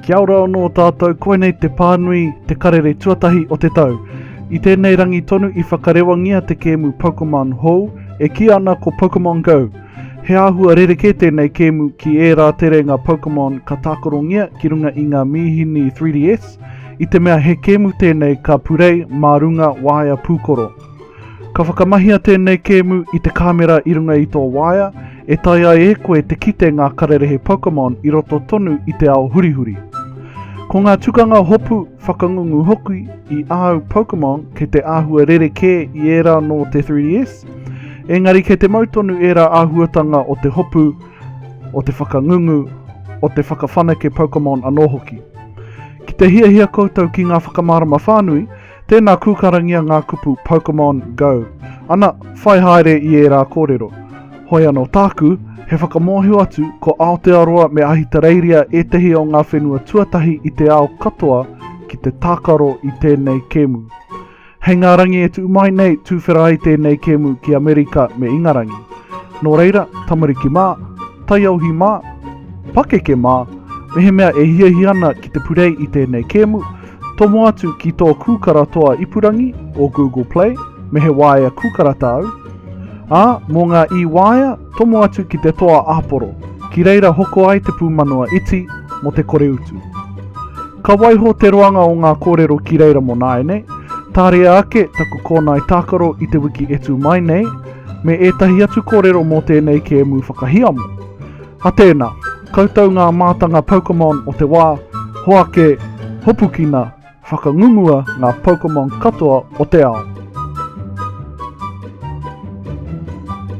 Kia ora anō tātou, koinei te pānui, te karere tuatahi o te tau. I tēnei rangi tonu i whakarewangia te kēmu Pokemon hou, e kīa ana ko Pokemon Go. He āhua rerekē tēnei kēmu ki ērā terenga Pokemon ka tākarongia ki runga i ngā mīhini 3DS, i te mea he kēmu tēnei ka purei mā runga waea pūkoro. Ka whakamahia tēnei kēmu i te kāmera i runga i tō waea, e taea ai e koe te kite ngā kararehe Pokemon i roto tonu i te ao hurihuri. Ko ngā tukanga hopu whakangungu hoki i āu Pokemon kei te āhua rerekē i ērā nō te 3DS, engari kei te mau tonu ērā āhuatanga o te hopu, o te whakangungu, o te whakawhanake Pokemon anō hoki. Ki te hiahia koutou ki ngā whakamārama whānui, Tēnā kūkarangia ngā kupu Pokemon Go. Ana, whai haere i ērā kōrero. Hoi anō tāku, he whakamōhio atu ko Aotearoa me Ahitereiria ētehi o ngā whenua tuatahi i te ao katoa ki te tākaro i tēnei kēmu. Hei ngā rangi e tuu mai nei tūwhera ai tēnei kēmu ki Amerika me Ingarangi. Nō reira, tamariki mā, taiauhi mā, pakeke mā, mehemea e hiahia ana ki te purei i tēnei kēmu, Tomo atu ki tō kūkara toa ipurangi o Google Play me he waea kūkara tāu, ā, mō ngā i-waea, tomo atu ki te toa āporo, ki reira hoko ai te pūmanawa iti mō te kore utu. Ka waiho te roanga o ngā kōrero ki reira mō nāianei, tāria ake taku kōnae tākaro i te wiki e tū mai nei, me ētahi atu kōrero mō tēnei kēmu whakahiamo. A tēnā, koutou ngā mātanga Pokémon o te wā, hoake, hopukina, whakangungua ngā Pokémon katoa o te ao.